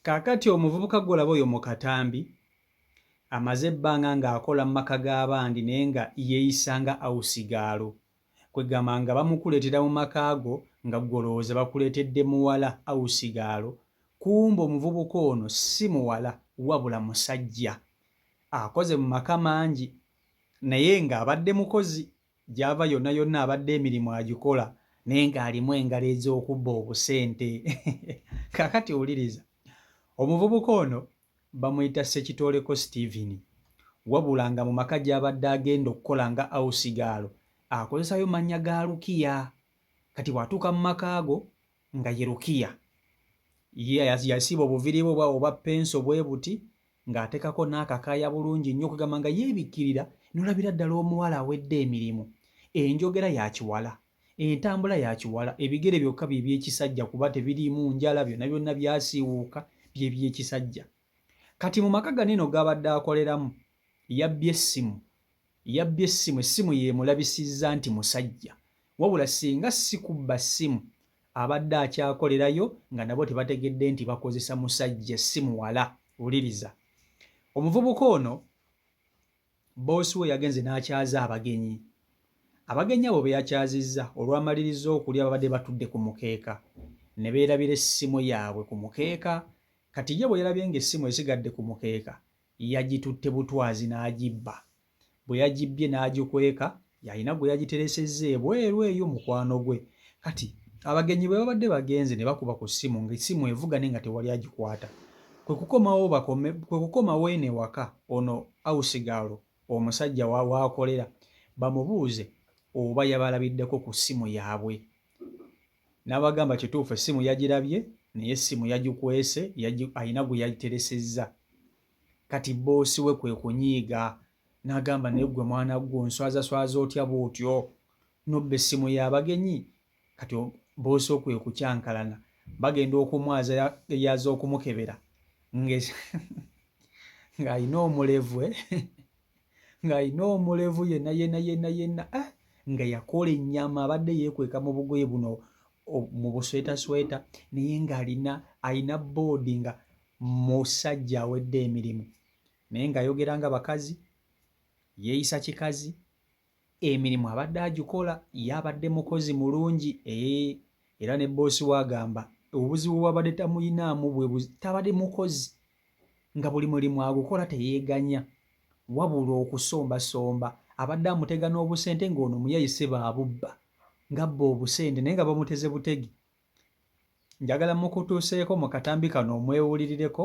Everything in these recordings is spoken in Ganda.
Kaakati omuvubuka gw'olaba oyo mu katambi, amaze ebbanga nga akola mu maka g'abandi naye nga yeeyisa nga awusigaalo. Kwegamba nga bamukuleetera mu maka go nga ggwe olowooza bakuleetedde muwala awusigaalo, kumbe omuvubuka ono si muwala wabula musajja. Akoze mu maka mangi naye nga abadde mukozi. Gyava yonna yonna abadde emirimu agikola naye ng'alimu engalo ez'okubba obusente. Kaakati wuliriza, omuvubuka ono bamuyita Ssekitooleko Steven wabula nga mu maka gy'abadde agenda okukola nga awusigaalo akozesayo mannya ga Lukiya. Kati bw'atuuka mu maka ago nga ye rukiya yasiba obuviri bwe bwawo obwa penso bwe buti ng'atekako n'akakaaya bulungi nnyo okugamba nga yeebikkirira nolabira ddala omuwala awedde emirimu enjogera yakiwala entambula yakiwala ebigere byokka bye byekisajja kuba tebiriimu njala byonna byonna byasiiwuuka bye byekisajja kati mu maka gano eno g'abadde akoleramu yabbye essimu Yabbye essimu, essimu y'emulabisizza nti musajja wabula singa si kubba ssimu abadde akyakolerayo nga nabo tebategedde nti bakozesa musajja essimu wala. Wuliriza omuvubuka ono bboosi we yagenze n'akyaza abagenyi. Abagenyi abo be yakyazizza olwamalirizza okulya babadde batudde ku mukeeka ne beerabira essimu yaabwe ku mukeeka. Kati ye bwe yalabye ng'essimu esigadde ku mukeeka Yagitutte butwazi n'agibba. Bwe yagibbye n'agikweka, yalina gwe yagiteresezza ebweru eyo mukwano gwe. Kati abagenyi bwe babadde bagenze ne bakuba ku ssimu ng'essimu evuga naye nga tewali agikwata. Kwe kukomawo bakome, kwe kukomawo eno ewaka ono hawusigaalo omusajja wa, w'akolera bamubuuze oba yabalabiddeko ku ssimu yaabwe. N'abagamba kituufu essimu yagirabye naye essimu yagikwese alina gwe yagiteresezza. Kati bboosi we kwe kunyiiga n'agamba naye ggwe mwana ggwe onswazaswaza otya bw'otyo nobba essimu y'abagenyi kati bboosi okwe kukyankalana bagenda okumwaza yaza okumukebera ng'alina omulevwe ng'alina omulevu yena yena yena yena eh, nga yakola ennyama abadde yeekweka mu bugoye buno mu buswetasweta naye ng'alina alina boodi nga musajja awedde emirimu naye ng'ayogera nga bakazi yeeyisa kikazi emirimu abadde agikola ye abadde mukozi mulungi ee eh, era ne boosi we agamba obuzibu bwabadde tamuyinaamu bwe tabadde mukozi nga buli mulimu agukola teyeeganya wabula okusombasomba abadde amutega n'obusente ng'ono muyayise baabubba ng'abba obusente naye nga bamuteze butegi njagala mukutuuseeko mu katambi kano omwewulirireko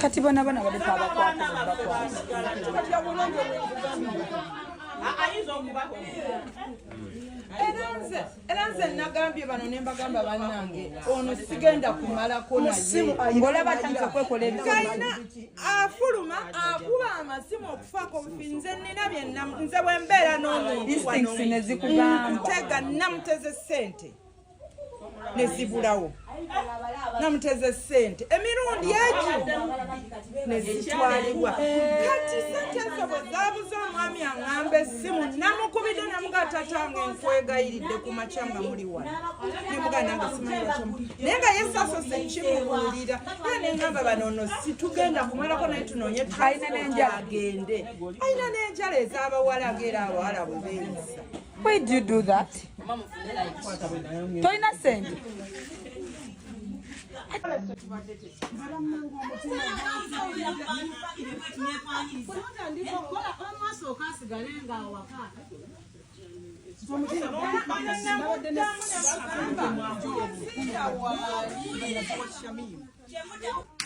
kati bona bona badepa abakwata era nze nagambye bano ne mbagamba bannange ono sigenda kumalako nayeolaba tanza okwekola ebikalina afuluma akuba amasimu okufaako obufi nze nina byenna nze bwembeera n'omuntunezikugamba ntega namuteze sente nezibulawo namuteze sente emirundi egi nezitwalibwa kati sente ezo bwe zabuza omwami aŋamba essimu namukubidde namuga tatange nkwegayiridde ku makya nga muli wano nemuga nange simanyiamu naye nga yesasose kimubuulira era neŋamba banono situgenda kumalako naye tunoonye tuagende alina n'enjala ez'abawala ngaera abawala bwe beeyisa Why do you do that? Toina send.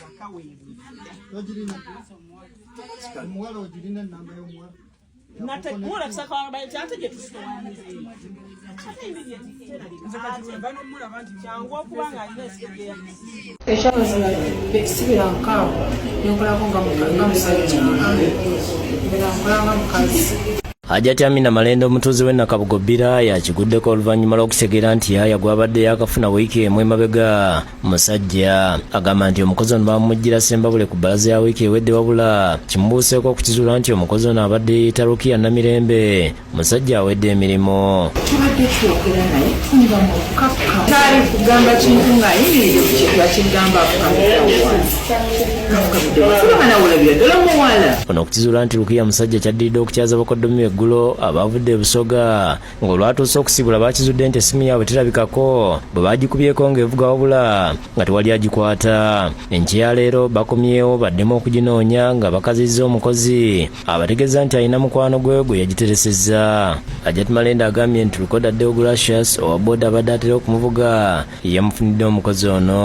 Wakawebwe. Omuwala ogirina enamba y'omuwala. ekyabazala bekisibira nkaawo nenkolako nga musajja era nkolanga mukazi Hajati Amina Malenda omutuuze w'e Nakabugo Bbira yakiguddeko oluvannyuma lw'okutegeera nti yaaya gw'abadde yaakafuna wiiki emu emabega musajja agamba nti omukozi ono bamumujjira sembabule ku bbalaza ya wiiki ewedde wabula kimubuuseeko okukizuula nti omukozi ono abadde yeeyita rukiya namirembe musajja awedde emirimu tubadde twogera naye tunyira mu kukakka taali kugamba kintu ng'ayimiridde ku kintu akigamba ono okukizuula nti rukiya musajja kyaddiridde okukyaza bakoddomi eggulo abaavudde ebusoga ng'olwatuuse okusibula bakizudde nti essimu yaabwe terabikako bwe baagikubyeko ng'evuga wabula nga tewali agikwata enkya ya leero bakomyewo baddemu okuginoonya nga bakazizza omukozi abategeeza nti alina mukwano gwe gwe yagiteresezza ajat malenda agambye nti lukoda deogratius owa boda abadde atera okumuvuga yeyamufunidde omukozi ono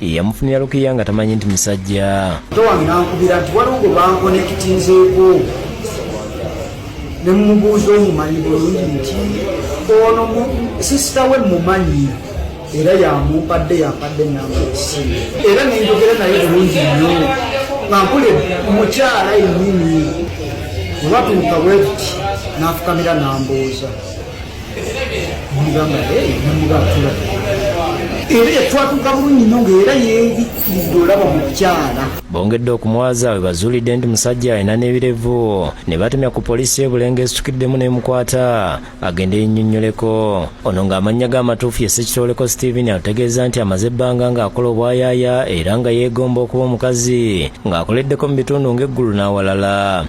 yamufunira lukiya nga tamanyi nti musajja towange nankubira nti waliwo gwe bankonekitinzeeko ne mumubuuza omumanyi bulungi nti ono sisita we mumanyi era yamumpadde yampadde enamba esimu era nenjogera naye bulungi nnyo nga nkule mukyala yennyini olwatuuka bwetuti nafukamira nambuuza era yatwatuka bulungi nyo ngaera yebikkiriza olaba mukyala bongedde okumwaza we bazuulidde nti musajja alina n'ebirevu ne batemya ku poliisi y'ebulenga esitukiddemu n'emukwata agende yennyonnyoleko ono ng'amannya g'amatuufu ye sekitooleko steven alutegeeza nti amaze ebbanga ng'akola obwayaaya era nga yeegomba okuba omukazi ng'akoleddeko mu bitundu ng'eggulu n'awalala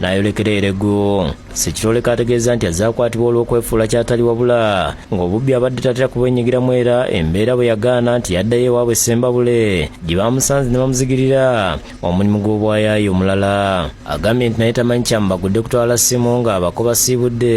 n'ayolekera eregu sekiroleka ategeeza nti azze akwatibwa olw'okwefuula kyatali wabula ng'obubbi abadde tatera kubwenyigiramu era embeera bwe yagaana nti yaddayo ewaabwe sembabule gye baamusanze ne bamuzigirira omulimu gw'obwayaayi omulala agambye nti naye tamanyi kyamubagudde kutwala ssimu ng'abako basiibudde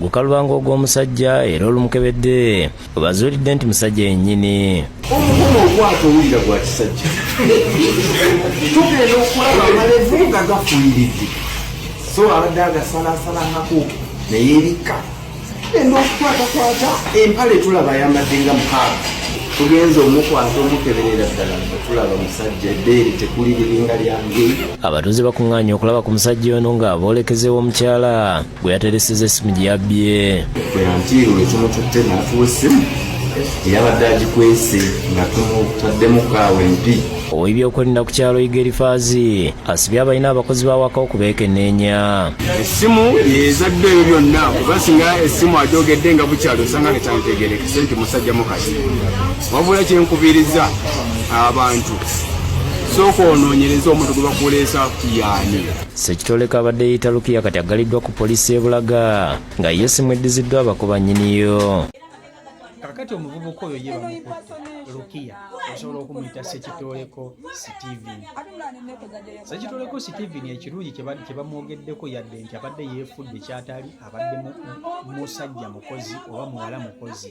gukaluba ng'ogw'omusajja era olumukebedde webazuulidde nti musajja yennyini omukono okwata owulira gwa kisajja tugenda okulaba amalevu nga gafuyiridde so abadde agasalasalangako neyebikka enda okukwatakwata empale tulaba ayambadde nga mukaaga tugenze omukwata omukeberera ddala nga tulaba musajja ebbeere tekuli liringa lyange abatuuze bakuŋŋaanya okulaba ku musajja ono nga boolekezeewo omukyala bwe yatereseza essimu gye yabbye bwe yantiirwa ekimututte n'atuwa essimu eyabadde agikwese nga tumutaddemu kaawa empi ow'ebyokwerinda ku kyalo igerifaazi asibye abalina abakozi b'awaka okubeekenneenya essimu yeezadde ebyo byonna kuba singa essimu agyogedde nga bukyalo osanga netantegerekese nti musajja mukasi wabula kyenkubiriza abantu sooka onoonyereza omuntu gwe bakuleesa yaani Sekitoleko abadde yita Lukiya kati aggaliddwa ku poliisi ebulaga nga ye simweddiziddwa abakuba nyiniyo kakati omuvubuka oyo ye bamukutte lukiya osobola okumuyita sekitoleko steven sekitoleko steven ekirungi kyebamwogeddeko yadde nti abadde yeefudde kyatali abadde musajja mukozi oba muwala mukozi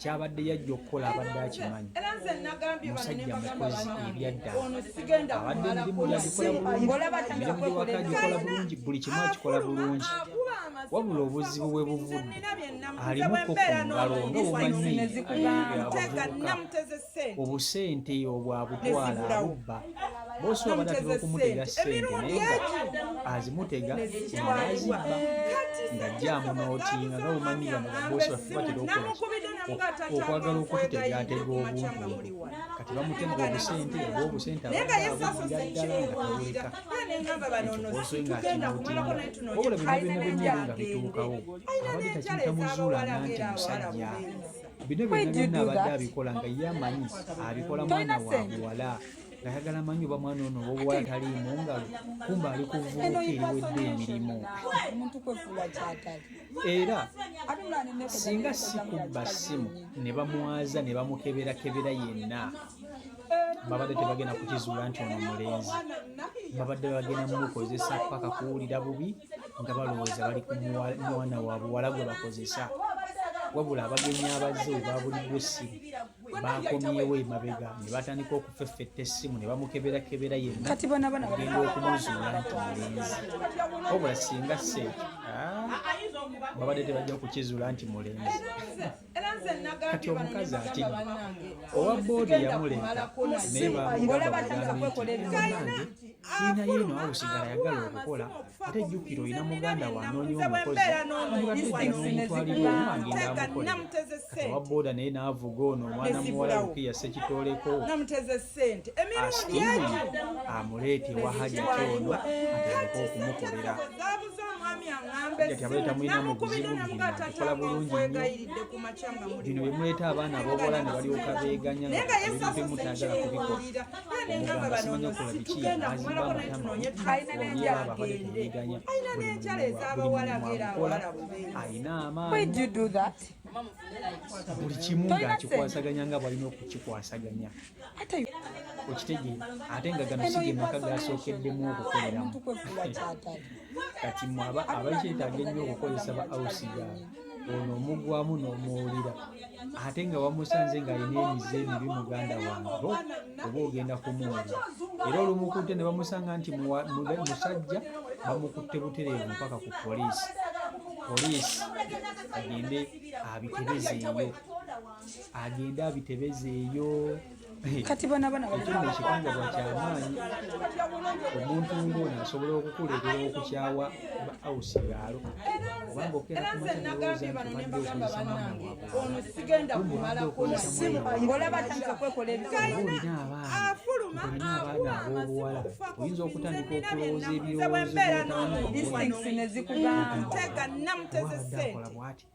kyabadde yajja okukola abadde akimanyi musajja mukozi ebyaddala abadde emirimu yagikola bulungi emirimu gyewaka gikola bulungi buli kimu akikola bulungi wabula obuzibu bwe buvudde alimuko ku ngalo nga omanyi obusente obwo abutwala abubba bosi wabadde atera okumuteera sente naye nga azimutega nazibba ngajjaamu nootinga nga bumanyi bano babosi baffe batera okola okwagala okututegaatega obuntu kati bamutega obusente oba obusente abaabugira ddala nga tawuleka ekyobosi nga kinootinga wabula byonna byonna byonna ebyo nga bituukawo abadde takiyita muzuula nanti musajja bino byonna byonna abadde abikola nga ye amanyi abikola mwana wa buwala ngayagala manyi oba mwana ono owobuwala taliimu ngalo kumba ali kuvuuka eriwedde emirimu era singa sikubba ssimu ne bamwaza ne bamukeberakebera yenna babadde tebagenda kukizuula nti ono mulenzi babadde bagenda mumukozesa paka kuwulira bubi nga balowooza bali ku mwana wa buwala gwe bakozesa wabula abagenyi abazze webabuliddwa essimu bakomyewo emabega ne batandika okufeffetta essimu ne bamukeberakebera yennaogenda okumuzuula nti mulenzi wabula singa seekyo ah, babadde tebajja kukizuula nti mulenzi kati omukazi ati owa boodi yamuleeta naye bamugambye nti kiina yeno awo sigala yagala okukola ate jjukira olina muganda wanoonya omukozi amugateddenomutwalira omu agenda amukole kati owa booda naye n'avuga ono omwana muwala lukiya sekitoleko asiimwe amuleete wahajati ono atandika okumukolera kati abale tamulina mu buzibu nakola bulungi nnyo bino byemuleeta abaana abobola ne balyoka beeganya ngaebintu mutagala kubikola omugamba simanyi okola biki azimba amatama olyaba abale temweganya alina amaanyi buli kimu ng'akikwasaganya nga bwalina okukikwasaganya okitegee ate nga gano si ge maka gasookeddemu okukoleramu kati mwe abakyetaaga ennyo okukozesa ba ausi gaabwe ono omugwamu n'omuwulira ate nga wamusanze ng'alina emize emibi muganda wange oba ogenda kumuwulira era olumukutte ne bamusanga nti musajja bamukutte butereevu mpaka ku poliisi poliisi agende abiterezeeyo agende abitebeze eyo kati bona bona ekirime ekikangabwa kyamaanyi omuntu ng'ono asobola okukuleetera okukyawa ba ausi yaalo obanga okeerakumaoolina abaana ab'obuwala oyinza okutandika okulowooza ebirowoozo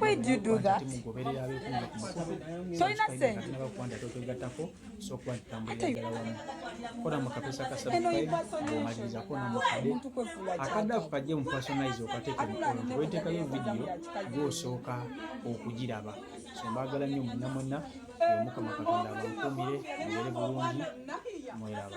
Why do you do that? Tolina sente. akadaafu kajje mu personalize okateeka emikono weteekayo vidiyo gwosooka okugiraba so mbaagala nnyo mwenna mwenna omukama katonda abakuumire mubere bulungi mweraba